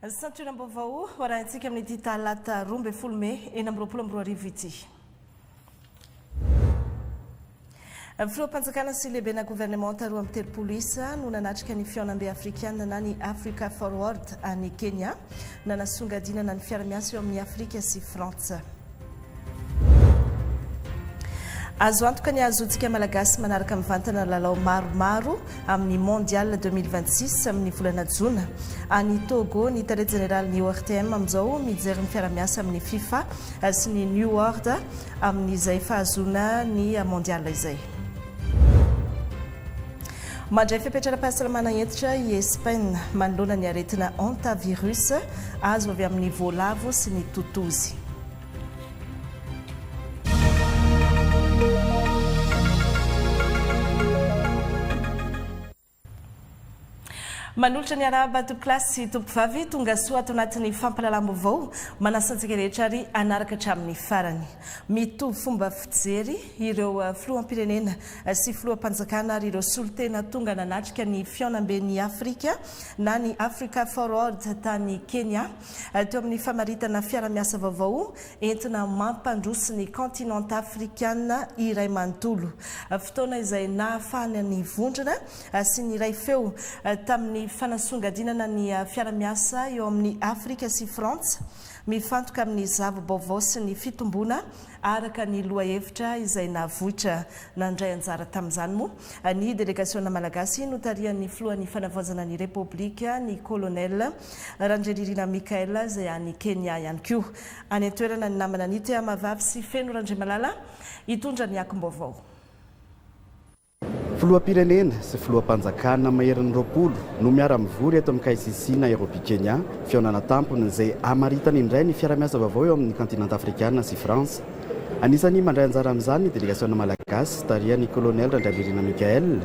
Santionam-baovao ho arahintsika amin'ity talata roa ambin'ny folo mey enina amby roapolo amby roa arivo ity. Filoham-panjakana sy lehibena governemanta roa amby telopolo isa no nanatrika ny fihaonambe afrikana na ny Africa Forward any Kenya nanasongadinana ny fiara-miasa eo amin'ny Afrika sy Frantsa. Azo antoka ny hahazoantsika Malagasy manaraka mivantana lalao maromaro amin'ny Mondial 2026 amin'ny volana jona any Togo. Ny tale jeneralin'ny ORTM amin'izao mijery ny fiaramiasa amin'ny FIFA sy ny New World amin'izay fahazoana ny Mondial izay. Mandray fepetra ara-pahasalamana hentitra i Espaina, manoloana ny aretina Hantavirus, azo avy amin'ny voalavo sy ny totozy. Manolotra ny arahaba tompoko lahy sy tompoko vavy, tonga soa ato anatin'ny fampahalalam-baovao. Manasa antsika rehetra ary hanaraka hatramin'ny farany. Mitovy fomba fijery ireo filoham-pirenena sy filoham-panjakana ary ireo solontena tonga nanatrika ny Fihaonamben'i Afrika na ny Africa Forward tany Kenya, teo amin'ny famaritana fiarahamiasa vaovao entina mampandroso ny kaontinanta afrikana iray manontolo, fotoana izay nahafahana nivondrona sy niray feo tamin'ny fanasongadinana ny fiarahamiasa eo amin'ny Afrika sy Frantsa mifantoka amin'ny zava-baovao sy ny fitomboana Araka ny lohahevitra izay navoitra nandray anjara tamin'izany moa ny delegasiona malagasy notarihan'ny filohan'ny fanavaozana ny Repoblika, ny Kolonely Randrianirina Michael izay any Kenya ihany koa. Any an-toerana ny namana Nite Amavavy sy Feno Randriamalala hitondra ny akom-baovao. Filoham-pirenena sy filoham-panjakana maherin'ny roapolo no miara-mivory eto amin'ny KICC Nairobi Kenya, fihaonana tampony izay hamaritana indray ny fiara-miasa vaovao eo amin'ny kaontinanta afrikana sy France. Anisan'ny mandray anjara amin'izany ny delegasiona malagasy tarihan'ny kolonely Randrianirina Michaël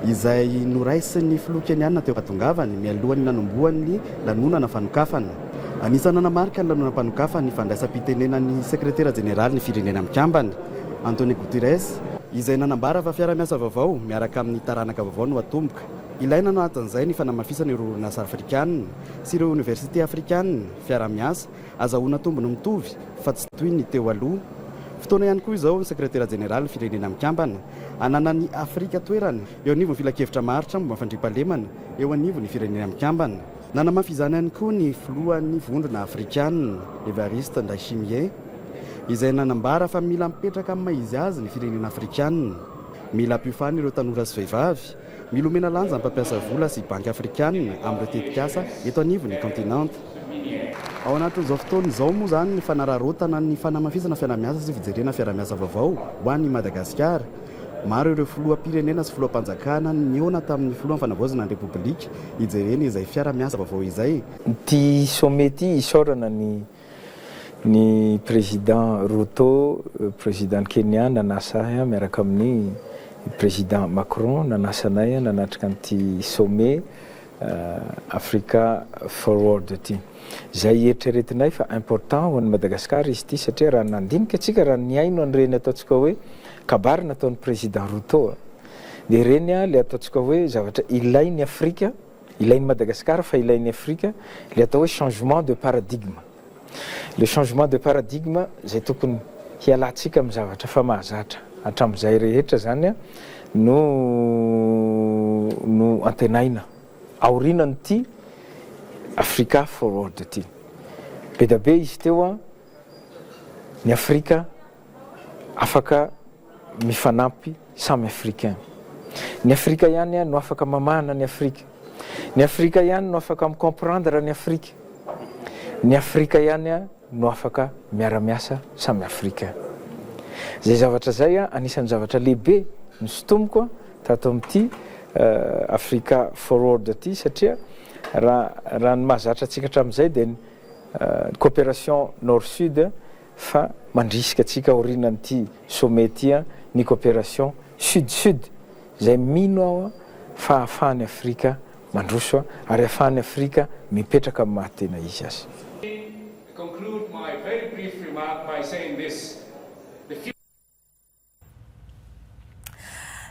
izay noraisin'ny filoha Kenyana teo am-pahatongavany mialohan'ny nanombohan'ny lanonana fanokafana. Anisan'ny nanamarika ny lanonam-panokafana ny fandraisam-pitenenan'ny sekretera jeneralin'ny Firenena Mikambana, Antonio Guterres, izay nanambara fa fiarahamiasa vaovao miaraka amin'ny taranaka vaovao no atomboka. Ilaina anatin'izay ny fanamafisana ireo orinasa afrikanina sy ireo oniversite afrikanina, fiaraha-miasa azahoana tombony mitovy fa tsy toy ny teo aloha. Fotoana ihany koa izao ny Sekretera Jeneralin'ny Firenena Mikambana ananan'i Afrika toerana eo anivon'ny Filankevitra maharitra momba ny Fandriampahalemana eo anivon'ny Firenena Mikambana, Nanamafy izany ihany koa ny filohan'ny vondrona afrikanina, Evariste Ndayshimiye, izay nanambara fa mila mipetraka amin'ny maha izy azy ny firenena afrikanina. Mila ampiofanina ireo tanora sy vehivavy, mila omena lanja ny mpampiasa vola sy banky afrikanina amin'ireo tetikasa eto anivon'ny kaontinanta. Ao anatin'izao fotoana izao moa izany ny fanararaotana ny fanamafisana fiarahamiasa sy fijerena fiarahamiasa vaovao ho an'i Madagasikara. Maro ireo filoham-pirenena sy filoham-panjakana nihaona tamin'ny filohan'ny Fanavaozana ny Repoblika hijerena izay fiara-miasa vaovao izay. Ity sommet ity isaorana ny ny Président Ruto, Président Kenya nanasa ahy miaraka amin'ny Président Macron nanasa anay nanatrika an'ity sommet Africa Forward ity. Izay eritreretinay fa important ho an'i Madagascar izy ity satria raha ny nandinika antsika, raha ny nihaino an'ireny ataontsika hoe kabary nataon'i Président Ruto dia ireny ilay ataontsika hoe zavatra ilain'i Afrika, ilain'i Madagascar fa ilain'i Afrika, ilay atao hoe changement de paradigme. Le changement de paradigme zay tokony hialantsika amin'ny zavatra efa mahazatra hatramin'izay rehetra zany no no antenaina aorinan'ity Africa Forward ity. Be da be izy teo an, ny Afrika. afaka mifanampy samy africain. Ny afrika ihany no afaka mamahana ny afrika. Ny afrika ihany no afaka mi comprendre ny afrika. Ny afrika ihany no afaka miara miasa samy africain. Zay zavatra zay anisany zavatra lehibe no sintomiko tato amity africa forward ty satria raha ny mahazatra antsika hatramizay dia ny cooperation nord sud fa mandrisika antsika aorianan'ity sommet ity ny cooperation sud-sud izay mino aho fa ahafahan'i Afrika mandroso ary ahafahan'i Afrika mipetraka amin'ny maha tena izy azy.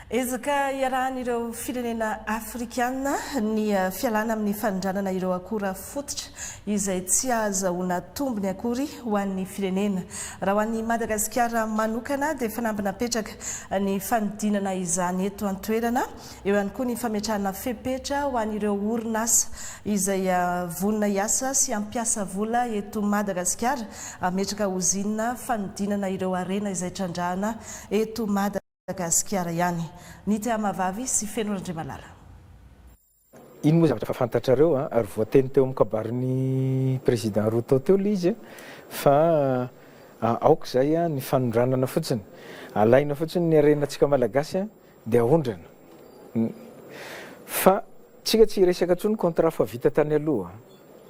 Ezaka iarahan'ireo firenena afrikana ny fialana amin'ny fanondranana ireo akora fototra izay tsy ahazahoana tombony akory ho an'ny firenena. Raha ho an'i Madagasikara manokana dia fanamby napetraka ny fanodinana izany eto an-toerana. Eo ihany koa ny fametrahana fepetra ho an'ireo orinasa izay vonona hiasa sy hampiasa vola eto Madagasikara hametraka ozinina fanodinana ireo harena izay trandrahana eto Madagasikara ihany. Ny tehamahavavy sy Feno Randriamalala. Iny moa zavatra efa fantatrareo ary voateny teo amin'ny kabarin'ny Président Ruto teo ilay izy fa aoka izay ny fanondranana fotsiny. Alaina fotsiny ny harenantsika Malagasy Dia aondrana. Ny. Fa tsika tsy hiresaka intsony contrat fa vita tany aloha.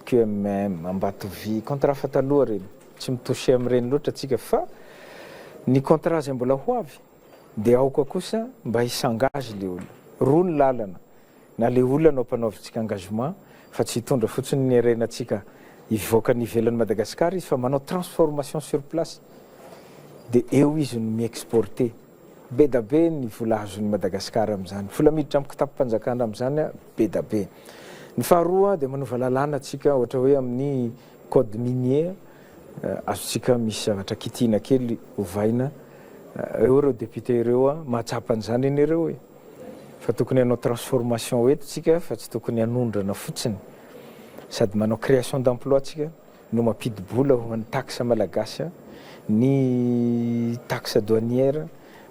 QMM, Ambatovy, contrat fa taloha ireny. Tsy mi toucher amin'ireny loatra tsika fa ny contrat izay mbola ho avy dia aoka kosa mba hi s'engage ilay olona. Roa ny lalana, na ilay olona no ampanaovintsika engagement fa tsy hitondra fotsiny ny harenantsika hivoaka any ivelan'i Madagasikara izy fa manao transformation sur place dia eo izy no mi exporter. Bedabe ny vola azon'i Madagasikara amin'izany. Vola miditra amin'ny kitapom-panjakana amin'izany bedabe. Ny faharoa dia manova lalàna tsika ohatra hoe amin'ny code minier azontsika misy zavatra kitihina kely ovaina eo ireo députés ireo mahatsapa an'izany anie ireo e! Fa tokony hanao transformation eto tsika fa tsy tokony hanondrana fotsiny. Sady manao création d'emploi tsika no mampidi-bola ho an'ny taxe malagasy a! ny taxe douanière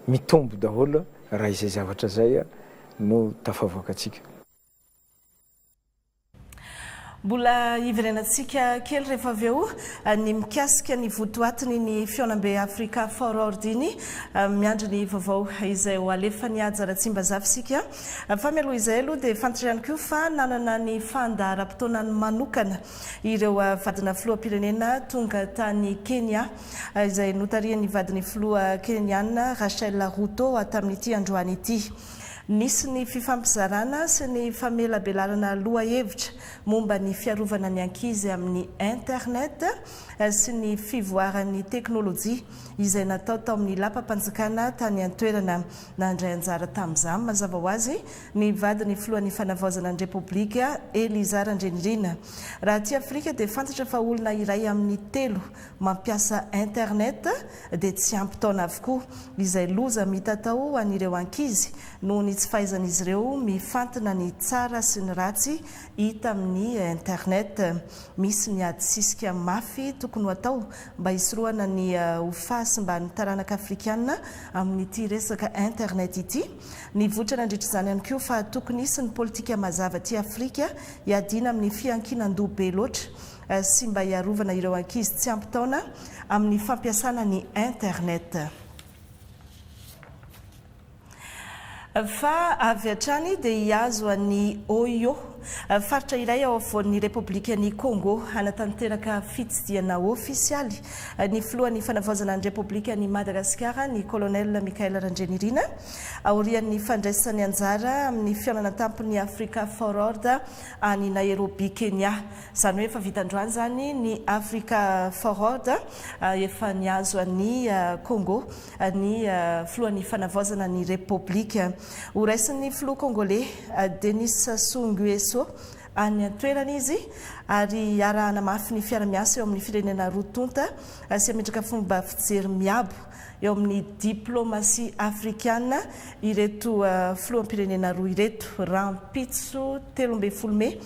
mitombo daholo raha izay zavatra izay no tafavoakantsika. Mbola hiverenantsika kely rehefa avy eo ny mikasika ny votoatiny ny Fihaonambe Africa Forward iny, miandry ny vaovao izay ho alefan'i Haja Ratsimbazafy isika. Fa mialoha izay aloha dia fantatra ihany koa fa nanana ny fandaharam-potoanany manokana ireo vadina filoham-pirenena tonga tany Kenya, izay notarihin'ny vadin'ny filoha Kenyana Rachel Ruto tamin'ity androany ity. Nisy ny fifampizarana sy ny famelabelarana lohahevitra momba ny fiarovana ny ankizy amin'ny Internet sy ny fivoaran'ny teknolojia izay natao tao amin'ny lapam-panjakana tany an-toerana nandray anjara tamin'izany. Mazava ho azy Ny vadin'ny filohan'ny Fanavaozana ny Repoblika, Eliza Randrianirina. Raha aty Afrika dia fantatra fa olona iray amin'ny telo mampiasa internet dia tsy ampy taona avokoa, izay loza mitatao ho an'ireo ankizy noho ny tsy fahaizan'izy ireo mifantina ny tsara sy ny ratsy hita amin'ny internet. Misy ny ady sisika mafy tokony ho atao mba hisorohana ny ho fahasimban'ny taranaka afrikana amin'ity resaka internet ity. Nivoitra nandritra izany ihany koa fa tokony hisy ny politika mazava aty Afrika hiadiana amin'ny fiankinan-doha be loatra sy mba hiarovana ireo ankizy tsy ampy taona amin'ny fampiasana ny Internet. Fa avy hatrany dia hihazo an'i Oyo. Faritra iray ao afovoan'ny Repoblikan'i Kôngô hanatanteraka fitsidihana ofisialy ny filohan'ny Fanavaozana ny Repoblikan'i Madagasikara, ny Kolonely Michael Randrianirina, aorian'ny fandraisany anjara amin'ny fihaonana an-tampon'ny Africa Forord any Nairobi, Kenya. Izany hoe efa vita androany izany ny Africa Forord, efa nihazo an'i Kôngô. ny filohan'ny Fanavaozana ny Repoblika horaisin'ny filoha Kongoley Denis Sassou Nguesso any an-toerana izy ary hiarahana mafy ny fiara-miasa eo amin'ny firenena roa tonta sy hametraka fomba fijery miabo eo amin'ny diplaomasia afrikana ireto filoham-pirenena roa ireto. Rahampitso telo ambin'ny folo mey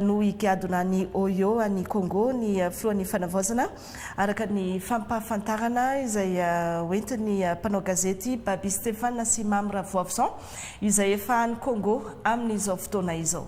no higadona any Oyo any Kongo ny filohan'ny Fanavaozana Araka ny fampahafantarana izay hoentin'ny mpanao gazety Baby Stéphane sy Mamy Ravoavison izay efa any Congo amin'izao fotoana izao.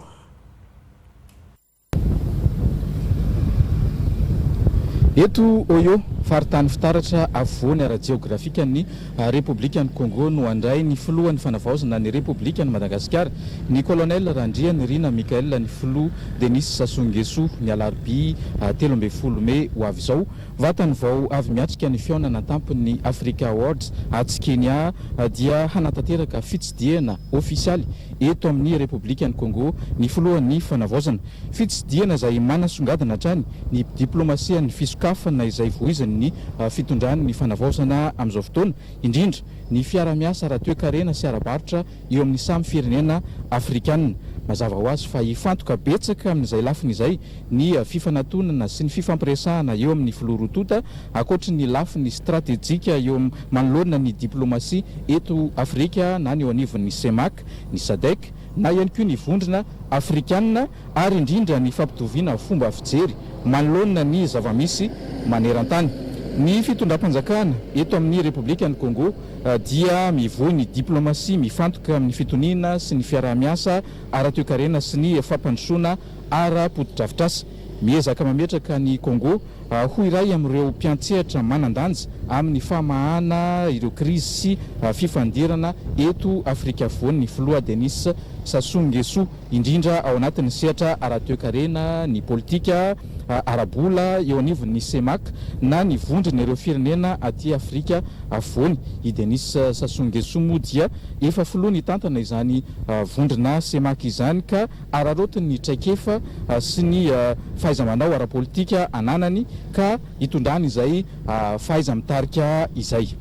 Eto Oyo, faritany fitaratra afovoany ara-jeografikan'ny Repoblikan'i Kongo no handray ny filohan'ny Fanavaozana ny Repoblikan'i Madagasikara, ny Kolonely Randrianirina Michael ny filoha Denis Sassou Nguesso, ny alarobia telo ambin'ny folo mey ho avy izao. Vatany vao avy miatrika ny fihaonana an-tampon'ny Africa Awards atsy Kenya dia hanatanteraka fitsidihana ofisialy eto amin'ny Repoblikan'i Kongo ny filohan'ny Fanavaozana. Fitsidihana izay manasongadina hatrany ny diplaomasian'ny fisokafana izay voizin' ny fitondrany ny fanavaozana amin'izao fotoana indrindra ny fiara-miasa ara-toekarena sy ara-barotra eo amin'ny samy firenena afrikana. Mazava ho azy fa hifantoka betsaka amin'izay lafiny izay ny fifanatonana sy ny fifampiresahana eo amin'ny filoha roa tonta ankoatry ny lafiny stratejika eo manoloana ny diplaomasia eto Afrika na ny eo anivon'ny CEMAC, ny Sadec, na ihany koa ny vondrona afrikanina ary indrindra ny fampitoviana fomba fijery manoloana ny zava-misy maneran-tany. Ny fitondram-panjakana eto amin'ny Repoblikan'i Kongo dia mivoy ny diplaomasia mifantoka amin'ny fitoniana sy ny fiaraha-miasa ara-toekarena sy ny fampandrosoana ara-potodrafitrasa. Miezaka mametraka an'i Kongo ho iray amin'ireo mpiantsehatra manan-danja amin'ny famahana ireo krizy sy fifandirana eto Afrika Afovoany ny Filoha Denis Sassou Nguesso, indrindra ao anatin'ny sehatra ara-toekarena, ny politika, ara-bola, eo anivon'ny Cemac, na ny Vondron'ireo Firenena aty Afrika Afovoany. I Denis Sassou Nguesso moa dia efa filoha nitantana izany vondrona Cemac izany ka. araraotiny ny traikefa sy ny fahaiza-manao ara-politika ananany ka hitondrany izay fahaiza-mitarika izay.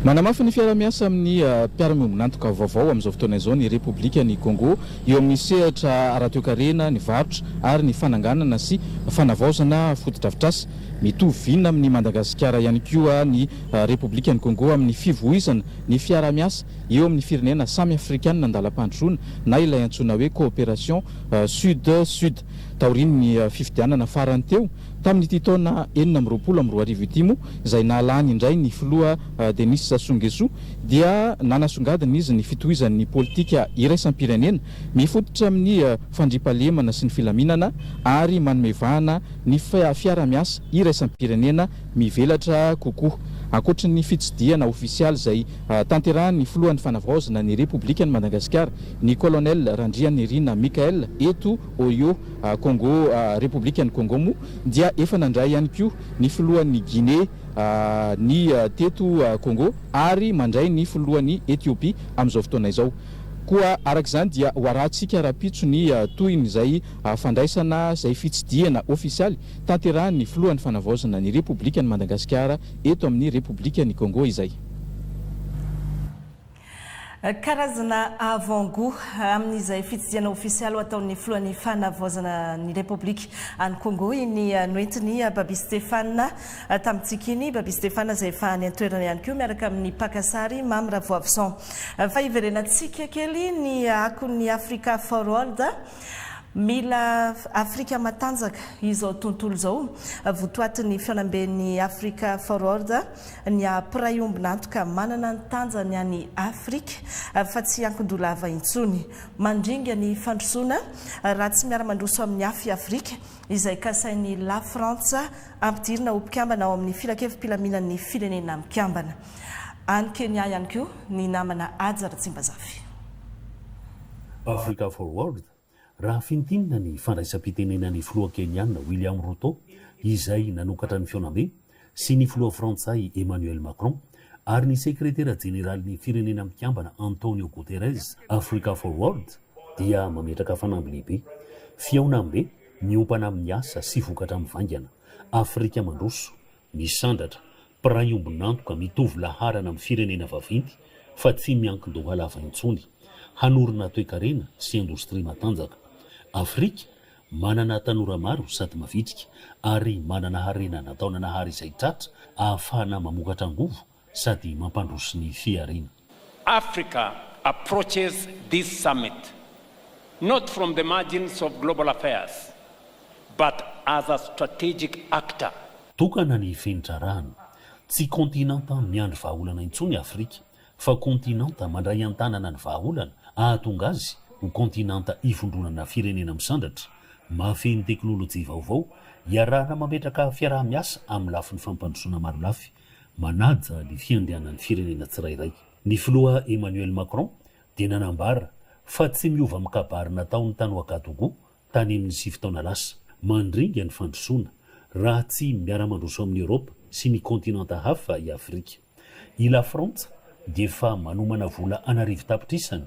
Manamafy ny fiaraha-miasa amin'ny mpiara-miombon'antoka vaovao amin'izao fotoana izao ny Repoblikan'i Kôngô eo amin'ny sehatra ara-toekarena, ny varotra ary ny fananganana sy fanavaozana fotodrafitrasa. Mitovy vina amin'i Madagasikara ihany koa ny Repoblikan'i Kôngô amin'ny fivoizana ny fiaraha-miasa eo amin'ny firenena samy afrikana an-dalam-pandrosoana na ilay antsoina hoe coopération Sud-Sud. Taorian'ny fifidianana farany teo tamin'ity taona enina amby roapolo amby roa arivo ity moa izay nahalany indray ny filoha Denis Sassou Nguesso dia nanasongadina izy ny fitohizan'ny politika iraisam-pirenena mifototra amin'ny fandriampahalemana sy ny filaminana ary manome vahana ny fiara-miasa iraisam-pirenena mivelatra kokoa ankoatry ny fitsidihana ofisialy izay Tanterahin'ny filohan'ny fanavaozana ny Repoblikan'i Madagasikara, ny Colonel Randrianirina Michael, eto Oyo, Kongo, Repoblikan'i Kongo moa dia efa nandray ihany koa ny filohan'ny Guinée ny teto Kongo ary mandray ny filohan'i Ethiopie amin'izao fotoana izao. Koa araka izany dia ho arahantsika rahampitso ny tohin'izay fandraisana izay fitsidihana ofisialy tanterahin'ny filohan'ny fanavaozana ny Repoblikan'i Madagasikara eto amin'ny Repoblikan'i Kongo izay. Karazana avant gout amin'izay fitsidihana ofisialy ho ataon'ny filohan'ny fanavaozana ny Repoblika any Congo iny noentin'i Baby Stephane tamintsika iny. I Baby Stephane izay efa any an-toerana ihany koa miaraka amin'ny mpaka sary Mamy Ravoavison. Fa hiverenantsika kely ny akon'ny Africa for World. Mila Afrika matanjaka izao tontolo izao. Votoatin'ny fihaonamben'ny Africa for World. Ny ahy mpiray ombon'antoka manana ny tanjany any Afrika fa tsy ankin-dolava intsony. Mandringa ny fandrosoana raha tsy miara-mandroso amin'ny hafa i Afrika, izay kasain'i Lafrantsa ampidirina ho mpikambana ao amin'ny Filankevi-pilaminan'ny Firenena Mikambana. Any Kenya ihany koa ny namana Haja Ratsimbazafy. Africa for World, Raha fintinina ny fandraisam-pitenenan'ny filoha Kenyana William Ruto, izay nanokatra ny fihaonambe, sy ny filoha frantsay Emmanuel Macron, ary ny sekretera jeneralin'ny Firenena Mikambana Antonio Guterres, Africa Forward dia mametraka fanamby lehibe. Fihaonambe miompana amin'ny asa sy vokatra mivaingana. Afrika mandroso, Misandratra, mpiray ombon'antoka mitovy laharana amin'ny firenena vaventy fa tsy miankin-doha lava intsony, hanorina toekarena sy indostria matanjaka. Afrika, manana tanora maro sady mavitrika, ary manana harena nataonanahary izay tratra ahafahana mamokatra angovo, sady mampandroso ny fihariana. Africa approaches this summit not from the margins of global affairs but as a strategic actor. Tokana ny fenitra arahana. Tsy kontinanta miandry vahaolana intsony i Afrika fa kontinanta mandray an-tanana ny vahaolana hahatonga azy ho kontinanta ivondronana firenena misandratra, mahafehy ny teknolojia vaovao, iarahana mametraka fiaraha-miasa amin'ny lafiny fampandrosoana marolafy manaja ny fiandrianan'ny firenena tsirairay. Ny filoha Emmanuel Macron dia nanambara fa tsy miova amin'ny kabary nataony tany Ouagadougou tany amin'ny sivy taona lasa, mandringa ny fandrosoana raha tsy miara-mandroso amin'i Eoropa sy ny kontinanta hafa i Afrika. I Lafrantsa dia efa manomana vola an'arivo tapitrisa ny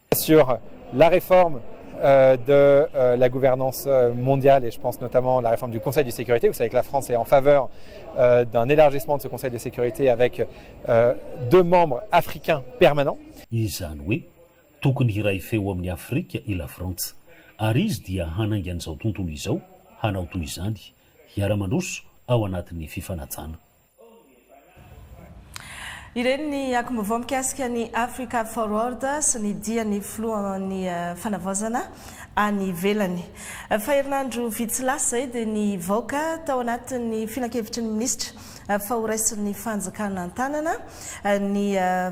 sur la réforme de la gouvernance mondiale et je pense notamment la réforme du conseil de sécurité, vous savez que la France est en faveur d'un élargissement de ce conseil de sécurité avec deux membres africains permanents. Izany hoe tokony hiray feo amin'ny Afrika i Lafrantsa ary izy dia hanainga an'izao tontolo izao hanao toy izany, hiara-mandroso ao anatin'ny fifanajana. Ireny ny akom-baovao mikasika ny Africa Forward sy ny dian'ny filohan'ny fanavaozana any ivelany. Fa herinandro vitsy lasa izay dia nivoaka tao anatin'ny filankevitry ny minisitra fa horaisin'ny fanjakana an-tanana ny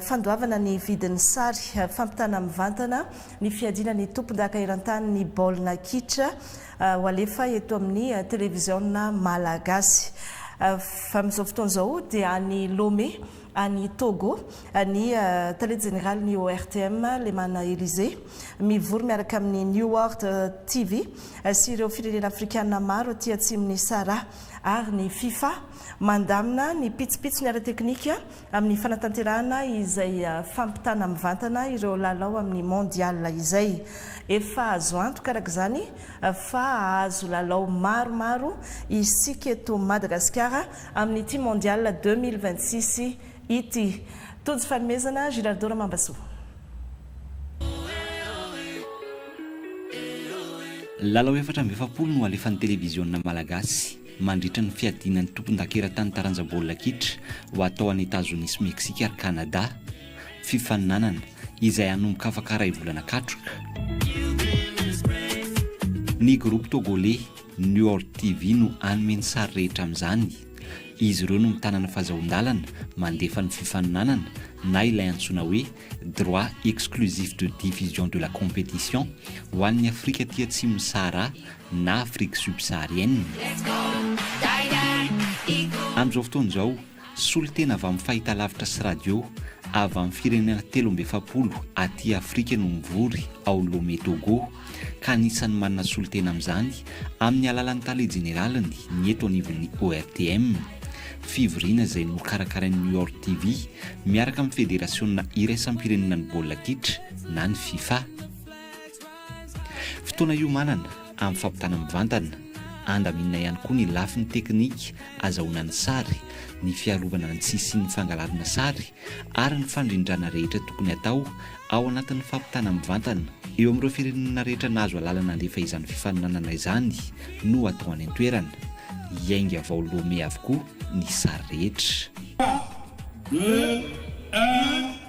fandoavana ny vidin'ny sary fampitana mivantana ny fiadiana ny tompondaka eran-tany ny baolina kitra ho alefa eto amin'ny televiziona malagasy. Amin'izao fotoana izao dia any Lome, any Togo, ny tale jeneralin'ny ORTM, Lemana Elysée, mivory miaraka amin'ny New World TV sy ireo firenena afrikana maro aty atsimon'i Sahara ary ny Fifa mandamina ny pitsopitsony ara-teknika amin'ny fanatanterahana izay fampitana mivantana ireo lalao amin'ny Mondial izay. Efa azo antoka araka izany fa hahazo lalao maromaro isika eto Madagasikara amin'ity Mondial deux mille vingt-six ity. Tojo fanomezana, Girardeau Ramambasoa. Lalao efatra amby efapolo no alefan'ny televiziona malagasy. mandritra ny fiadiana ny tompondakerantany taranja baolina kitra ho atao any Etazonia sy Meksika ary Kanada, fifaninanana izay hanomboka afaka iray volana katroka. Ny groupe togolais Nior TV no hanome ny sary rehetra amin'izany. Izy ireo no mitana ny fazahoan-dalana mandefa ny fifaninanana na ilay antsoina hoe droit exclusif de diffusion de la compétition ho an'ny Afrika aty atsimon'i Sahara na Afrique subsaharienne. Amin'izao fotoana izao, solontena avy amin'ny fahitalavitra sy radio avy amin'ny firenena telo amby efapolo aty Afrika no mivory ao Lomé Togo, ka anisan'ny manana solontena amin'izany amin'ny alalan'ny Tale Jeneraliny ny eto anivon'ny ORTM. Fivoriana izay nokarakarain'ny York TV miaraka amin'ny Federasionina Iraisam-pirenenan'ny Baolina Kitra na ny Fifa. Fotoana iomanana amin'ny fampitana mivantana, andaminina ihany koa ny lafiny teknika azahoana ny sary, ny fiarovana ny tsy hisian'ny fangalarana sary ary ny fandrindrana rehetra tokony hatao ao anatin'ny fampitana mivantana. Eo amin'ireo firenena rehetra nahazo alalana handefa izany fifaninanana izany no hatao any an-toerana. Hiainga vao Lomé avokoa ny sary rehetra. Part. Deux. Un.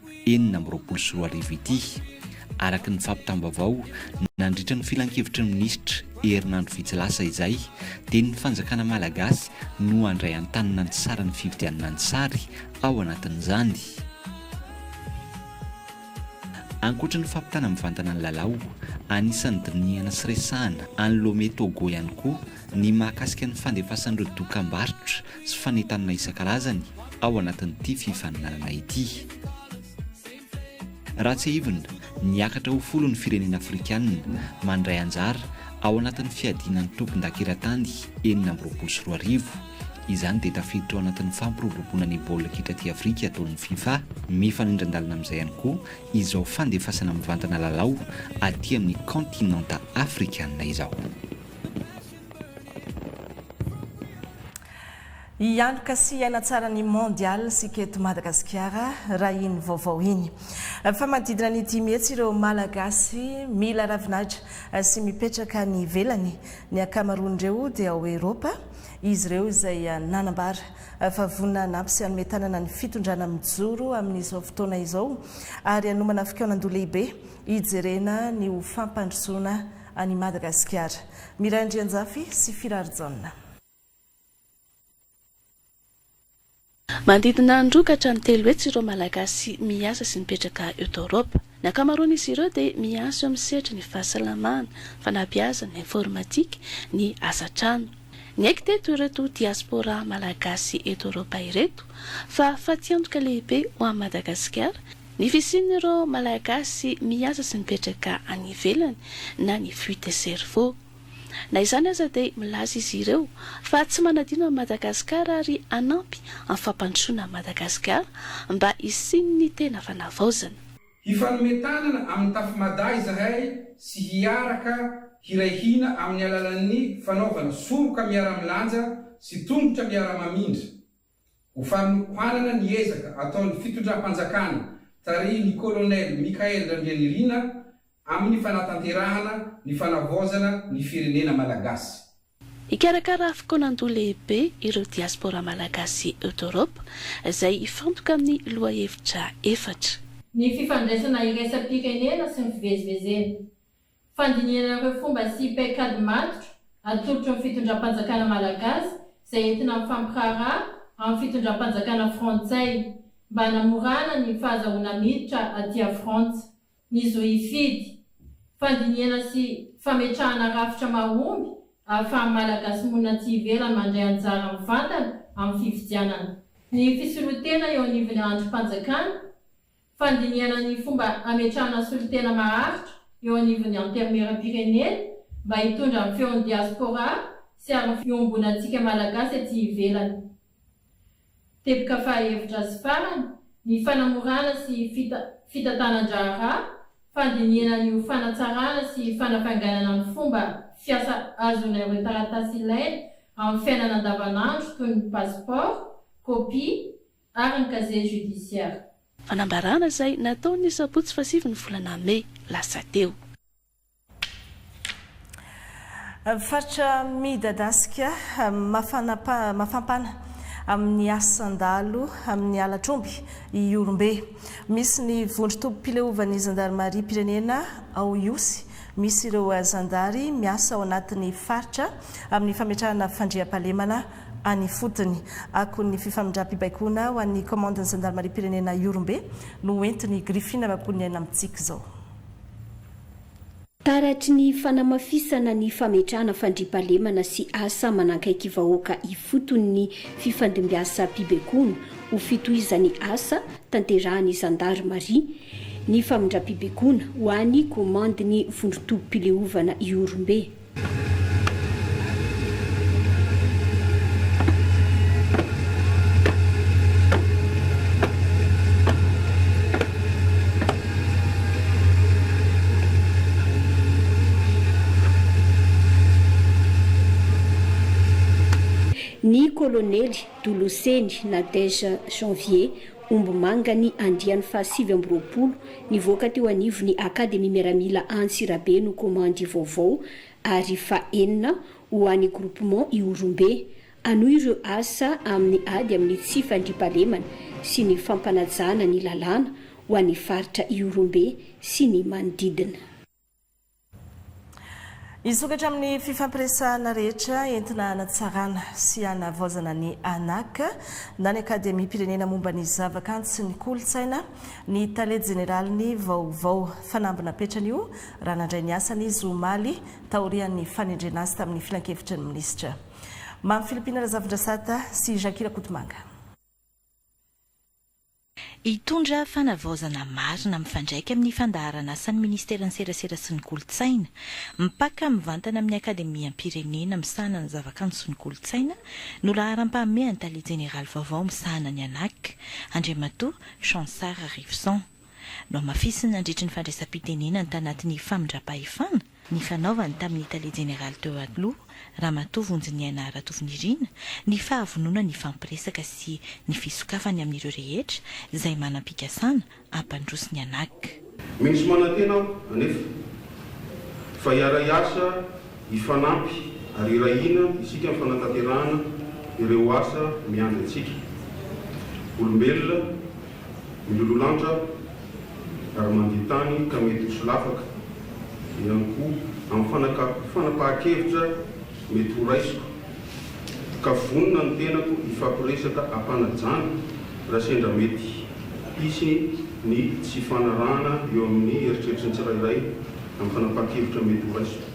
enina amby roapolo sy roa arivo ity, araka ny fampitam-baovao nandritra ny filankevitry ny minisitra herinandro vitsy lasa izay, dia ny fanjakana malagasy no handray an-tanana ny saran'ny fividianana ny sary ao anatin'izany. Ankoatra ny fampitana mivantana ny lalao, anisan'ny dinihana sy resahana any Lomé Togo ihany koa ny mahakasika ny fandefasan'ireo dokambarotra sy fanentanana isan-karazany ao anatin'ity fifaninanana ity. Raha tsiahivina, niakatra ho folo ny firenena afrikanina mandray anjara ao anatin'ny fiadiana ny tompon-dakilatany enina amby roapolo sy roa arivo. Izany dia tafiditra ao anatin'ny fampiroboroboana ny baolina kitra aty Afrika ataon'ny fifa. Mifanindran-dalana amin'izay ihany koa izao fandefasana mivantana lalao aty amin'ny kaontinanta afrikanina izao. Hianoka sy hiaina tsara ny Mondial isika eto Madagasikara raha iny vaovao iny. Fa manodidina ny dimy hetsy ireo Malagasy mila ravin'Atra sy mipetraka any ivelany. Ny ankamaroan'ireo dia ao Eropa. Izy ireo izay nanambara fa vonona hanampy sy hanome tanana ny fitondrana mijoro amin'izao fotoana izao ary hanomana fikaonandoha lehibe hijerena ny ho fampandrosoana An'i Madagasikara. Miray Andrianjafy sy Firarijaona. Manodidina ny roa ka hatramin'ny telo hetsy ireo Malagasy miasa sy mipetraka eto Eoropa. Ny ankamaroan'izy ireo dia miasa eo amin'ny sehatry ny fahasalamana, fanabeazana, informatika, ny asa an-trano. Niaiky teto ireto diaspora Malagasy eto Eoropa ireto fa fatiantoka lehibe ho an'i Madagasikara, Ny fisian'ireo Malagasy miasa sy mipetraka any ivelany na ny fuite de cerveau. Na izany aza dia milaza izy ireo fa tsy manadino an'i Madagasikara ary hanampy amin'ny fampandrosoana an'i Madagasikara mba hisian'ny tena fanavaozana. Hifanome tanana amin'ny Tafy Mada izahay sy hiaraka hiray hina amin'ny alalan'ny fanaovana soroka miara-milanja sy tongotra miara-mamindra. Ho fanohanana ny ezaka ataon'ny fitondram-panjakana tarihin'ny Kolonely Michaël Randrianirina amin'ny fanatanterahana ny fanavaozana ny firenena malagasy. Hikarakara fokoanan-doha lehibe ireo diaspora malagasy eto Eoropa, izay hifantoka amin'ny lohahevitra efatra. Ny fifandraisana iraisampirenena sy ny fivezivezena. Fandinihana ireo fomba sy paikady matotra atorotry ny fitondram-panjakana malagasy izay entina mifampiraharaha amin'ny fitondram-panjakana frantsay mba hanamorana ny fahazahoana miditra aty a Frantsa ny zo hifidy. Fandinihana sy fametrahana rafitra mahomby ahafahan'ny Malagasy monina aty ivelany mandray anjara mivantana amin'ny fifidianana. Ny fisoloan-tena eo anivon'ny andrim-panjakana Fandinihana ny fomba hametrahana solontena maharitra eo anivon'ny Antenimierampirenena mba hitondra amin'ny feon'ny diaspora sy ary ny fiombonantsika Malagasy aty ivelany. Teboka fahahevitra sy farany, ny fanamorana sy fita fitantanan-draharaha, fandinihana ny ho fanatsarana sy fanafainganana ny fomba fiasa ahazoana ireo taratasy ilaina amin'ny fiainana andavanandro toy ny passeport, copie, ary ny casier judiciaire. Fanambarana izay natao ny sabotsy fahasivy ny volana mey lasa teo. Faritra midadasika mafampana amin'ny asan-dalo amin'ny halatr'omby Ihorombe. Misy ny vondron-tobim-pileovan'ny zandarimariam-pirenena ao Ihosy. Misy ireo zandary miasa ao anatin'ny faritra amin'ny fametrahana fandriampahalemana any ifotony. Akon'ny fifamindram-pibaikoana ho an'ny Kaomandin'ny Zandarimariam-pirenena Ihorombe no ho entin'ny Griffin Rakohoniaina amintsika izao. Taratry ny fanamafisana ny fametrahana fandriampahalemana sy asa manakaiky vahoaka ifotony ny fifandimbiasam-pibaikoana ho fitohizan'ny asa tanterahan'ny Zandarimaria ny famindram-pibaikoana ho an'ny Kaomandin'ny Vondron-tobim-pileovana Ihorombe. Ny kolonely Doloseny Nadège Janvier, Ombimanga ny andiany fahasivy amby roapolo nivoaka teo anivon'ny Akademia Miaramila Antsirabe no komandy vaovao ary fahenina ho an'ny Groupement Ihorombe. Hanohy ireo asa amin'ny ady amin'ny tsy fandriampahalemana sy ny fampanajana ny lalàna ho an'ny faritra Ihorombe sy ny manodidina. Hisokatra amin'ny fifampiresahana rehetra entina hanatsarana sy hanavaozana ny ANAC na ny Akademiam-pirenena momba ny zavakanto sy ny kolontsaina ny Tale Jeneralin'ny vaovao fanamby napetran'io raha nandray ny asany izy omaly taorian'ny fanendrena azy tamin'ny filankevitry ny minisitra Mamy Philippine Razafindrasata sy Jackie Rakotomanga. Hitondra fanavaozana marina mifandraika amin'ny fandaharanasan'ny Ministeran'ny Serasera sy ny Kolontsaina, mipaka mivantana amin'ny Akademiam-pirenena misahana ny zavakanto sy ny kolontsaina, no laharam-pahamehan'ny Tale Jeneraly vaovao misahana ny Anac, Andriamatoa Chansard Arivison. Nohamafisiny nandritry ny fandraisam-pitenenany tanatin'ny famindram-pahefana, nifanaovany tamin'ny Tale Jeneraly teo aloha, Ramatoa Vonjiniaina Ratovinirina, ny fahavononany hifampiresaka sy ny fisokafany amin'ireo rehetra izay manam-pikasana hampandroso ny Anac. Misy manantena aho anefa fa hiara-hiasa, hifanampy ary hiray hina isika amin'ny fanatanterahana ireo asa miandry antsika. Olombelona Miloloha lanitra ary mandia tany ka mety ho solafaka ihany koa amin'ny fanapahan-kevitra mety ho raisiko ka vonona ny tenako hifampiresaka am-panajana raha sendra mety hisy ny tsy hifanarahana eo amin'ny eritreritry ny tsirairay amin'ny fanapahan-kevitra mety ho raisiko.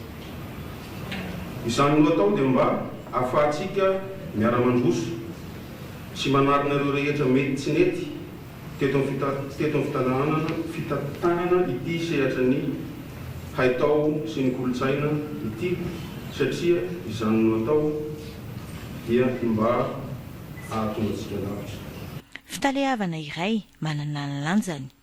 Izany no atao dia mba ahafahantsika miara-mandroso. Tsy manarina ireo rehetra mety tsy nety teto amin'ny teto amin'ny fitantanana fitantanana ity sehatra ny haitao sy ny kolontsaina ity satria izany no atao dia ny mba ahatonga antsika lavitra. Fitaleavana iray manana ny lanjany.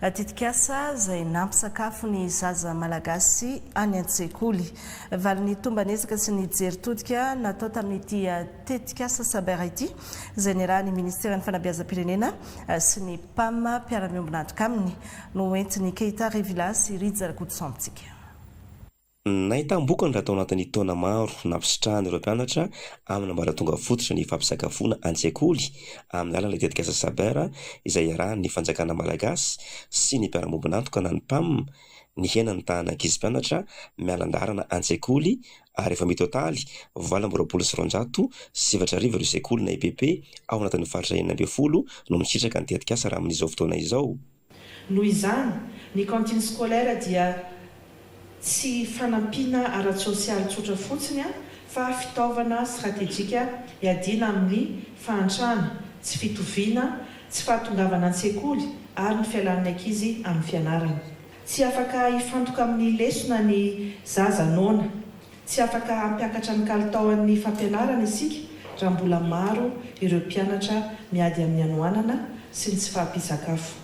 Tetikasa izay nampisakafo ny zaza Malagasy any an-tsekoly. Valin'ny tomban'ezaka sy ny jery todika natao tamin'ity tetikasa Saber ity, izay niarahan'ny Ministeran'ny Fanabeazam-pirenena sy ny Pam mpiara-miombon'antoka aminy, no hoentin'i Keita Revilla sy Rija Rakotosambotsika. Nahitam-bokany raha tao anatin'ny taona maro nampisitrahan'ireo mpianatra amin'ny ambaratonga fototra ny fampisakafoana an-tsekoly amin'ny alalan'ilay tetikasa Saber izay iarahan'ny fanjakana malagasy sy ny mpiara-mombon'antoka na ny Pam nihena ny tahan'ny ankizy mpianatra miala an-daharana an-tsekoly ary efa mitotaly valo amby roapolo sy roanjato sy efatra arivo ireo sekoly na EPP ao anatin'ny faritra enina ambin'ny folo no misitraka ny tetikasa raha amin'izao fotoana izao. Noho izany, ny cantine scolaire dia tsy fanampiana ara-tsosialy tsotra fotsiny fa fitaovana stratejika hiadiana amin'ny fahantrana, tsy fitoviana, tsy fahatongavana an-tsekoly ary ny fialan'ny ankizy amin'ny fianarana. Tsy afaka hifantoka amin'ny lesona ny zaza noana Tsy afaka hampiakatra ny kalitaon'ny fampianarana isika raha mbola maro ireo mpianatra miady amin'ny hanoanana sy ny tsy fahampian-tsakafo.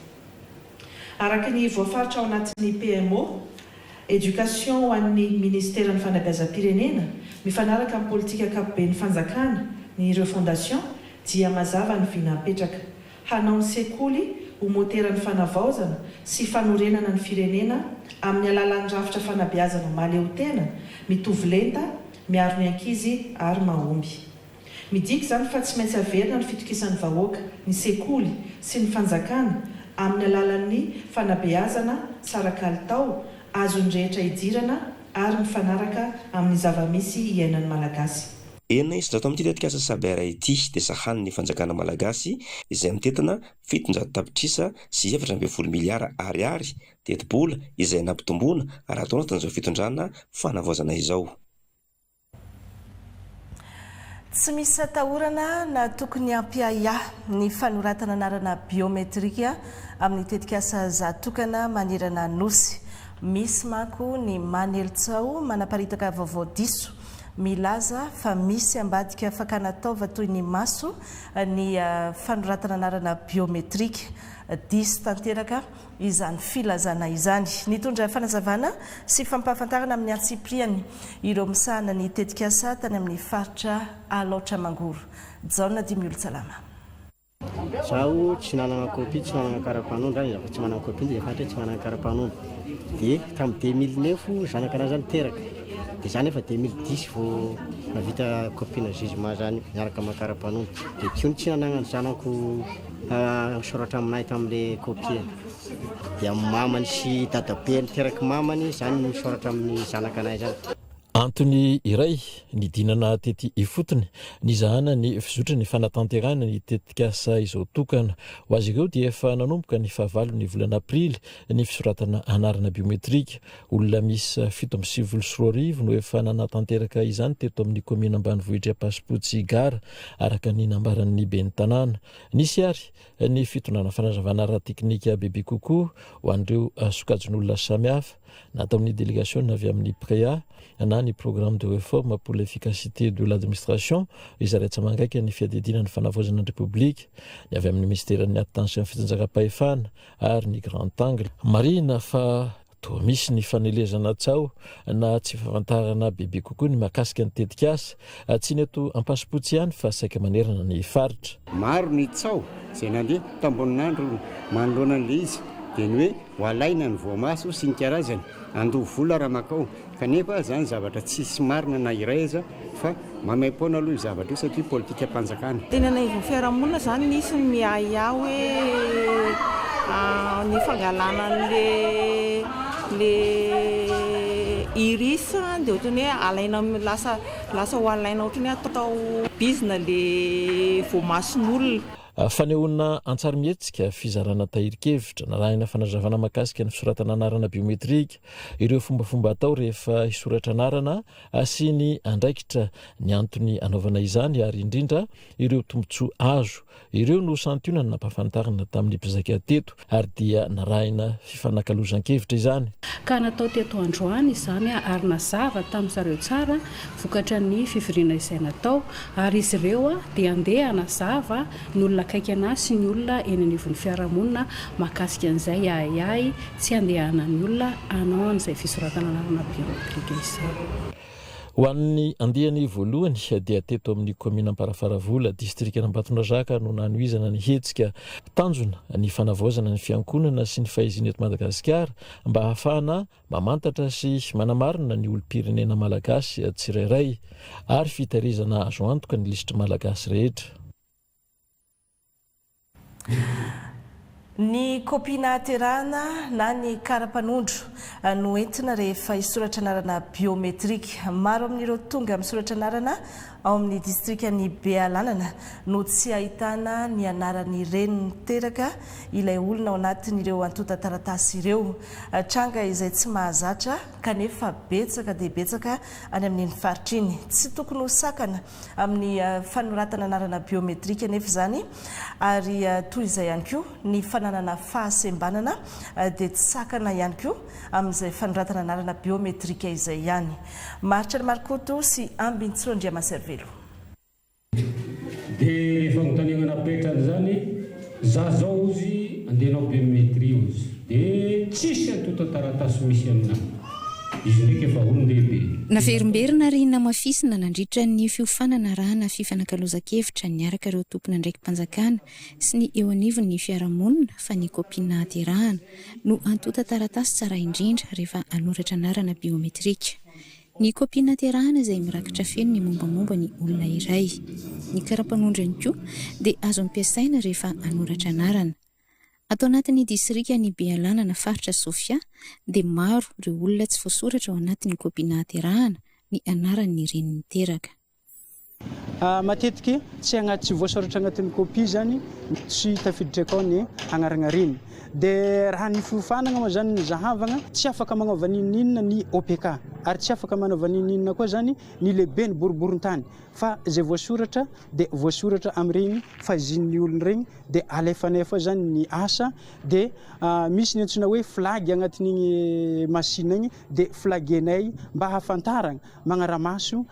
Araka ny voafaritra ao anatin'ny PMO, Education ho an'ny Ministeran'ny Fanabeazam-pirenena, mifanaraka amin'ny politika ankapoben'ny fanjakana, ny Refondation, dia mazava ny vina apetraka. Hanao ny sekoly ho moteran'ny fanavaozana sy fanorenana ny firenena amin'ny alalan'ny rafitra fanabeazana mahaleotena, mitovy lenta, miaro ny ankizy ary mahomby. Midika izany fa tsy maintsy averina ny fitokisan'ny vahoaka, ny sekoly sy ny fanjakana amin'ny alalan'ny fanabeazana tsara kalitao, azon'ny rehetra idirana ary mifanaraka amin'ny zava-misy iainan'ny Malagasy. Enina isan-jato amin'ity tetikasa Saber ity dia sahanin'ny fanjakana malagasy izay mitentina fitonjato tapitrisa sy efatra ambin'ny folo miliara Ariary, tetibola, izay nampitomboina raha atao anatin'izao fitondrana fanavaozana izao. Tsy misy atahorana na tokony hampiahiahy ny fanoratana anarana biometrika amin'ny tetikasa Za Tokana manerana Nosy. Misy manko ny manely tsaho manaparitaka vaovao diso milaza fa misy ambadika fakana taova toy ny maso ny fanoratana anarana biometrika. Diso tanteraka izany filazana izany. Nitondra fanazavana sy fampahafantarana amin'ny antsipiriany ireo misahana ny tetikasa tany amin'ny faritra Alaotra Mangoro. Jaona Dimiolotsalama. Izaho tsy nanana copie, tsy nanana karapanondro aho, izaho koa tsy manana copie, dia fantatra hoe tsy manana karapanondro. Dia tamin'ny deux mille neuf zanaka anah izany teraka, dia izaho nefa deux mille dix vao nahavita copie-na jugement izany miaraka amin'ny karapanondro. Dia tsy io no tsy nananan'ny zanako nisoratra amin'ahy tamin'ilay copie. Dia ny mamany sy dadabe niteraky mamany izany no nisoratra amin'ny zanaka anah izany. Antony iray nidinana tety ifotony nizahana ny fizotry ny fanatanterahana ny tetikasa izao tokana ho azy ireo dia efa nanomboka ny fahavalon'ny volana aprily ny fisoratana anarana biometrika. Olona miisa fito amby sivifolo sy roa arivo no efa nanatanteraka izany teto amin'ny kaominina ambanivohitr'i Ampasipotsy Gara, araka ny nambaran'ny ben'ny tanàna. Nisy ary. ny fitondrana fanazavana ara-teknika bebe kokoa ho an'ireo sokajin'olona samihafa nataon'ny delegasiona avy amin'ny PREA na ny Programme de Réforme pour l'Efficacité de l'Administration izay raisamangaika ny fiadidiana ny fanavaozana ny Repoblika ny avy amin'ny Minisiteran'ny Attention Fitsinjakam-pahefana ary ny Grand Angle. Marihina fa Toa misy ny fanelezana tsaho na tsy fahafantarana bebe kokoa ny mahakasika ny tetikasa, tsy ny eto Ampasimpotsy ihany fa saika manerana ny faritra. Maro ny tsaho izay nandeha tao Amboninandro manoloana an'ilay izy dia ny hoe ho alaina ny voamaso sy ny karazany, handoa vola raha makao, kanefa izany zavatra tsy misy marina na iray aza Fa maimaim-poana aloha io zavatra io satria politikam-panjakana. Teny anaivon'ny fiarahamonina izany nisy ny miahiahy hoe ny fangalana an'ilay iris dia ohatran'ny hoe alaina, lasa lasa ho alaina ohatran'ny hoe atao bizina ilay voamason'olona. Fanehoana an-tsarimihetsika, fizarana tahirin-kevitra, narahina fanazavana mahakasika ny fisoratana anarana biometrika, ireo fombafomba atao rehefa hisoratra anarana, Asiany andraikitra ny antony anaovana izany ary indrindra ireo tombontsoa azo. Ireo no santionany nampahafantarina tamin'ny mpizaika teto ary dia narahina fifanakalozan-kevitra izany. Ka natao teto androany izany ary nazava tamin'ny zareo tsara vokatra ny fivoriana izay natao ary izy ireo dia handeha hanazava ny olona akaiky an'ahy sy ny olona eny anivon'ny fiarahamonina mahakasika an'izay ahiahy Tsy andehanan'ny olona hanao an'izay fisoratana anarana biometrika izao. Ho an'ny andiany voalohany dia teto amin'ny kaominina Amparafaravola, distrikan'Ambatondrazaka no nanohizana ny hetsika. Tanjona ny fanavaozana ny fiankonana sy ny fahezina eto Madagasikara mba hahafahana mamantatra sy manamarina ny olom-pirenena malagasy tsirairay ary fitahirizana azo antoka ny lisitr'i Malagasy rehetra. Ny kopia nahaterahana na ny kara-panondro no entina rehefa hisoratra anarana biometrika. Maro amin'ireo tonga misoratra anarana ao amin'ny distrikan'i Bealanana no tsy ahitana ny anaran'ny reny niteraka ilay olona ao anatin'ireo antontan-taratasy ireo. Tranga izay tsy mahazatra kanefa betsaka dia betsaka any amin'iny faritra iny. Tsy tokony ho sakana amin'ny fanoratana anarana biometrika anefa izany ary toy izay ihany koa ny fananana fahasembanana dia tsy sakana ihany koa amin'izay fanoratana anarana biometrika izay ihany. Maharitra an'i Marikoto sy Ambintsoro Andriamaservelo. Dia rehefa notanehana am-petra an'izany. Za zao ozy andeha anao biometrie ozy de tsisy antontan-taratasy misy aminao. Izy ndraiky efa olon-dehibe. Naverimberina ary namafisina nandritra ny fiofanana arahana fifanakalozan-kevitra niaraka ireo tompon'andraiki-panjakana sy ny eo anivon'ny fiarahamonina fa ny kopia nahaterahana no antontan-taratasy tsara indrindra rehefa hanoratra anarana biometrika. Ny kaopian-naterahana izay mirakitra feno ny mombamomba ny olona iray. Ny karapanondro ihany koa dia azo ampiasaina rehefa hanoratra anarana. Ato anatin'ny disrikan'i Bealanana faritra Sofia dia maro ireo olona tsy voasoratra ao anatin'ny kaopiana haterahana ny anaran'ny reny niteraka. Matetika tsy agnaty tsy voasoratra agnatin'ny copie izany tsy tafiditra akao ny agnaragnariana. Dia raha ny fiofanagna moa izany no zahavagna, tsy afaka magnova n'inon'inona ny OPK, ary tsy afaka manaova n'inon'inona koa izany ny lehiben'ny boriborintany, fa izay voasoratra dia voasoratra amin'iregny fahizian'ny olona iregny, dia alefanay foana izany ny asa, dia misy ny antsoina hoe flag agnatin'igny machine igny, dia flagenay mba hahafantaragna, magnara-maso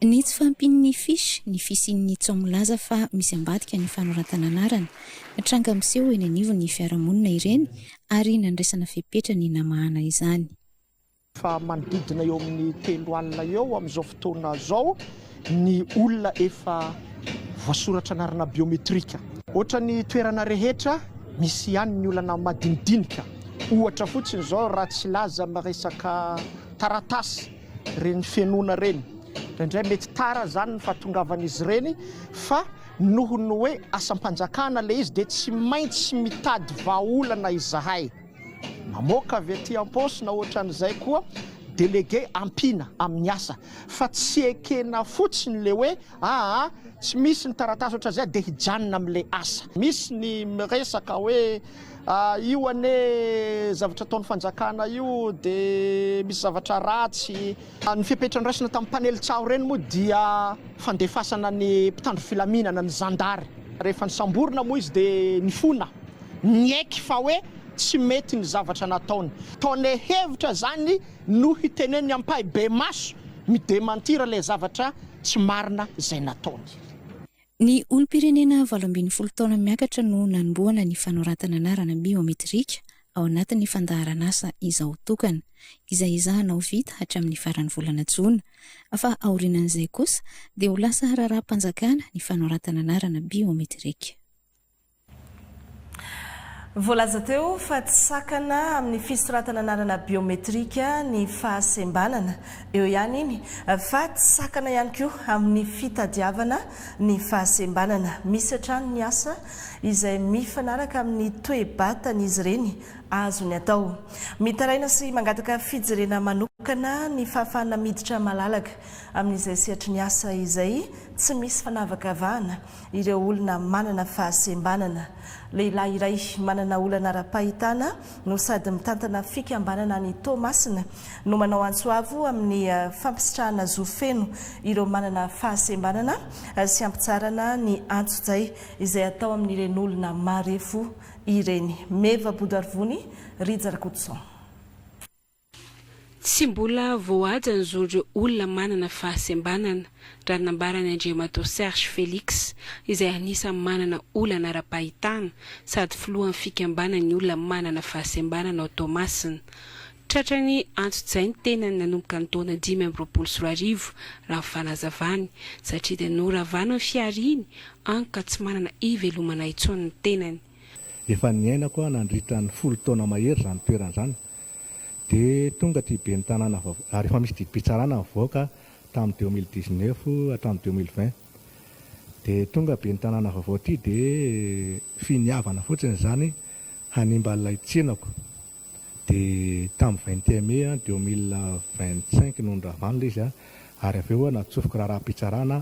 Ny tsy fahampian'ny fiche, ny fisian'ny tso milaza fa misy ambadika ny fanoratana anarana. Tranga miseho eny anivon'ny fiarahamonina ireny ary nandraisana fepetra ny namahana izany. Fa manodidina eo amin'ny telo alina eo amin'izao fotoana izao ny olona efa voasoratra anarana biometrika. Ohatra ny toerana rehetra, misy ihany ny olana madinidinika. Ohatra fotsiny izao raha tsy laza amin'ny resaka taratasy. Ireny fenoana ireny. Indraindray mety tara izany ny fahatongavan'izy ireny fa noho ny hoe asam-panjakana ilay izy dia tsy maintsy mitady vahaolana izahay. Mamoaka avy aty am-paosy na ohatran'izay koa délégué ampiana amin'ny asa fa tsy ekena fotsiny ilay hoe Aa tsy misy ny taratasy otrazay de hijanona amle asa. Misy ny miresaka hoe ah io anie zavatra ataony fanjakana io de misy zavatra ratsy. Ny fepetra noraisina tamin'ny mpanely tsaho ireny moa dia fandefasana ny mpitandro filaminana, ny zandary. Rehefa nisamborina moa izy dia nifona, niaiky fa hoe tsy mety ny zavatra nataony. Tone hevitra izany no hiteneniny ampahibemaso mi-dementir ilay zavatra tsy marina izay nataony. Ny olom-pirenena valo ambin'ny folo taona miakatra no nanombohana ny fanoratana anarana biometrika ao anatin'ny fandaharan'asa Izaho Tokana, izay ezahana ho vita hatramin'ny faran'ny volana jona, fa aorianan'izay kosa dia ho lasa raharaham-panjakana ny fanoratana anarana biometrika. Voalaza teo fa tsy sakana amin'ny fisoratana anarana biometrika ny fahasembanana. Eo ihany iny fa tsy sakana ihany koa amin'ny fitadiavana ny fahasembanana. Misy hatrany ny asa izay mifanaraka amin'ny toe-batan'izy ireny azony atao. Mitaraina sy mangataka fijerena manokana ny fahafahana miditra malalaka amin'izay sehatry ny asa izay tsy misy fanavakavahana Ireo olona manana fahasembanana. Lehilahy iray manana olana ara-pahitana no sady mitantana fikambanana any Toamasina no manao antso avo amin'ny fampisitrahana zo feno ireo manana fahasembanana sy hampitsarana ny antsojay izay atao amin'ireny olona marefo ireny. Meva Bodarivony, Rija Rakotoson. Tsy mbola voahaja ny zon'ireo olona manana fahasembanana, raha ny nambaran'i Andriamatoa Serge Felix, izay anisan'ny manana olana ara-pahitana sady filohan'ny fikambanan'ny olona manana fahasembanana ao Toamasina. Tratrany antsojay ny tenany nanomboka ny taona dimy amby roapolo sy roa arivo, raha ny fanazavany, satria dia noravana ny fihariany an ka tsy manana ivelomana intsony ny tenany. Efa niainako aho nandritra ny folo taona mahery izany toerana izany, dia tonga ity ben'ny tanàna vaovao ary efa misy didim-pitsarana nivoaka tamin'ny deux mille dix neuf hatramin'ny deux mille vingt dia tonga ben'ny tanàna vaovao ity dia finiavana fotsiny izany hanimba ilay tsenako dia tamin'ny vingt et un mai deux mille vingt cinq no niravan'ilay izy ary avy eo natsofiko raharaham-pitsarana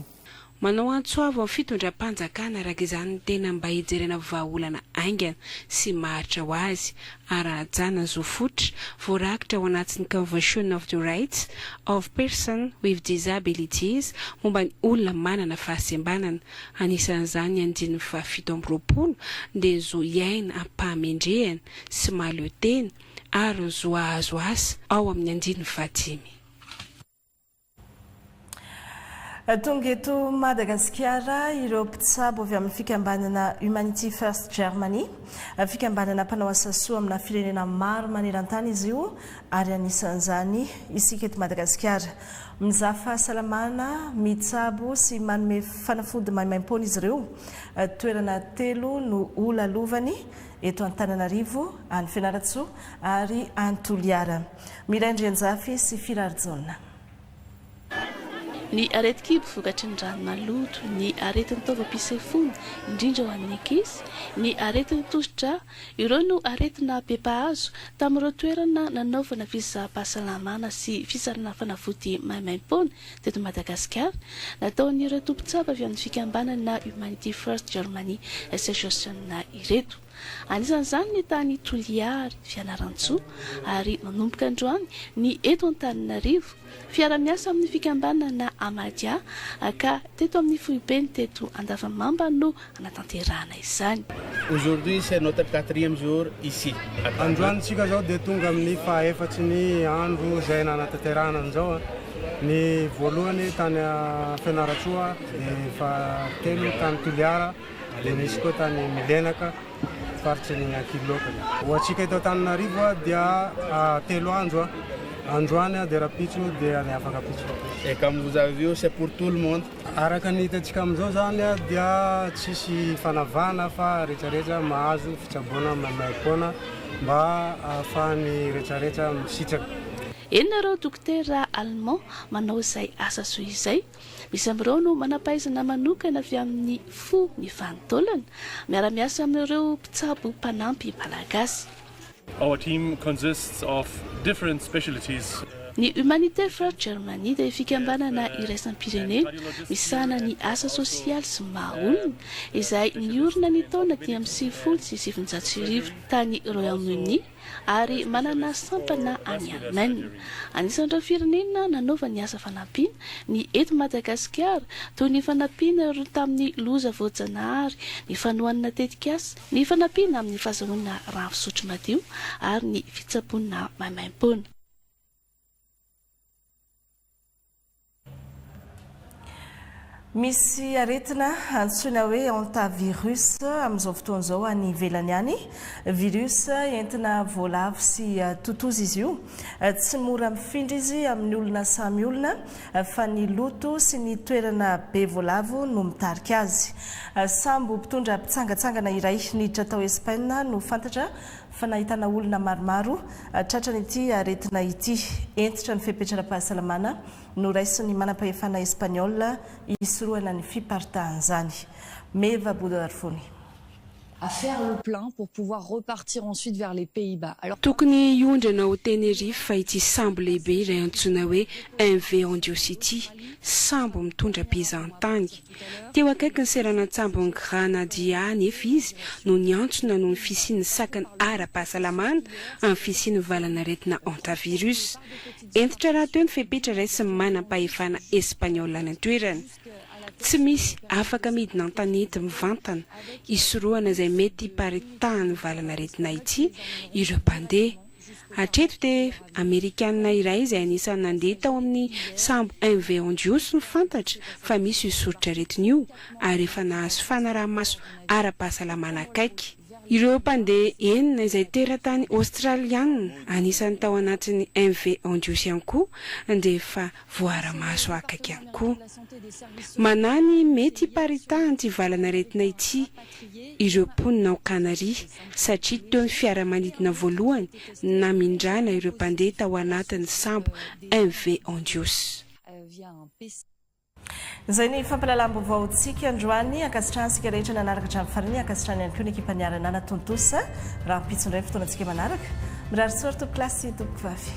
Manao antso avo amin'ny fitondram-panjakana araka izany ny tena mba hijerena vahaolana haingana sy maharitra ho azy ary hanajana ny zo fototra voarakitra ao anatin'ny Convention of the Rights of Person with Disabilities momba ny olona manana fahasembanana, anisan'izany ny andininy fahafito amby roapolo, dia ny zo hiaina amim-pahamendrehana sy mahaleo tena ary ny zo hahazo asa ao amin'ny andininy fahadimy. Tonga eto Madagasikara ireo mpitsabo avy amin'ny fikambanana Humanity First Germany, fikambanana mpanao asa soa amina firenena maro maneran-tany izy io ary anisan'izany isika eto Madagasikara. Mizaha fahasalamana, mitsabo sy manome fanafody maimaim-poana izy ireo. Toerana telo no holalovany, eto Antananarivo, any Fianarantsoa ary any Toliara. Miray Andrianjafy sy Firarijaona. Ny aretin-kibo vokatry ny rano maloto, ny aretin'ny taovam-pisefoana, indrindra ho an'ny ankizy, ny aretin'ny tosi-drà, ireo no aretina be mpahazo tamin'ireo toerana nanaovana fisaham-pahasalamana sy fisarahana fanafody maimaim-poana teto Madagasikara, nataon'ireo tompon-tsampy avy amin'ny fikambanana Humanity First Germany Association ireto. Anisan'izany ny tany Toliary, Fianarantsoa ary manomboka androany ny eto Antananarivo. Fiara-miasa amin'ny fikambanana Amadia ka teto amin'ny foibeny teto Andavamamba no hanatanterahana izany. Aujourd'hui c'est notre quatrième jour ici à Tana. Androany isika izao dia tonga amin'ny faha efatry ny andro izay nanatanterahana an'izao. Ny voalohany tany Fianarantsoa dia faha telo tany Toliara. Dia nisy koa tany Milenaka, faritry ny Ankiloka. Ho antsika eto Antananarivo dia telo andro, androany dia rahampitso dia ny afaka pitsopy. Et comme vous avez vu c'est pour tout le monde. Araka ny hitantsika amin'izao izany dia tsisy fanavahana fa rehetrarehetra mahazo fitsaboana maimaimpoana mba ahafahan'ny rehetrarehetra misitraka. Eny nareo Dokotera Allemand manao izay asa soa izay. Misy amin'ireo no manam-pahaizana manokana avy amin'ny fo ny vanin-taolana, miara-miasa amin'ireo mpitsabo mpanampy malagasy. Our team consists of different specialities. Ny Humanité for Germany dia fikambanana iraisam-pirenena misahana ny asa sosialy sy ny maha olona, izay niorina ny taona dimy ambin'ny sivifolo sy sivinjato sy arivo tany Royaume-Uni, ary manana sampana any Allemagne. Anisan'ireo firenena nanaova ny asa fanampiana ny eto Madagasikara, toy ny fanampiana ireo tamin'ny loza voajanahary, ny fanohanana tetikasa, ny fanampiana amin'ny fahazoana rano fisotro madio ary ny fitsaboana maimaimpoana. Misy aretina antsoina hoe hantavirus amin'izao fotoana izao any ivelany any. Virus entina voalavo sy totozy izy io. Tsy mora mifindra izy amin'ny olona samy olona fa ny loto sy ny toerana be voalavo no mitarika azy. Sambo mpitondra mpitsangantsangana iray niditra tao Espaina no fantatra fa nahitana olona maromaro tratran'ity aretina ity. Hentitra ny fepetra ara-pahasalamana noraisin'ny manampahefana Espaniola hisorohana ny fiparitahan'izany. Meva Bodoarfoni. à faire le plein pour pouvoir repartir ensuite vers les Pays-Bas alors. Tokony hiondrana ao Tenerife fa ity sambo lehibe iray antsoina hoe MV Andios ity, sambo mitondra mpizahan-tany, Teo akaiky ny seranan-tsambon'i Granadilla anefa izy no niantsona noho ny fisian'ny sakana ara-pahasalamana amin'ny fisian'ny valan'aretina hantavirus. Hentitra rahateo ny fepetra raisin'ny manampahefana Espaniola any an-toerana. Tsy misy afaka midina an-tanety mivantana hisorohana izay mety hiparitahan'ny valan'aretina ity ireo mpandeha. Hatreto dia Amerikanina iray izay anisan'ny nandeha tao amin'ny sambo MV Hondius no fantatra fa misy io soritr'aretina io ary efa nahazo fanaraha-maso ara-pahasalamana akaiky. Ireo mpandeha enina izay teratany Aostraliana, anisan'ny tao anatin'ny MV Hondius ihany koa, dia efa voaara-maso akaiky ihany koa. Manahy ny mety hiparitahan'ity valan'aretina ity ireo mponina ao Kanaria, satria teo ny fiaramanidina voalohany namindrana ireo mpandeha tao anatin'ny sambo MV Andios. Izay ny fampahalalam-baovaontsika androany. Ankasitrahany isika rehetra nanaraka hatramin'ny farany. Ankasitrahany ihany koa ny ekipa niarana natontosa. Rahampitso indray ny fotoanantsika manaraka. Mirary soa ry tompokolahy sy tompokovavy.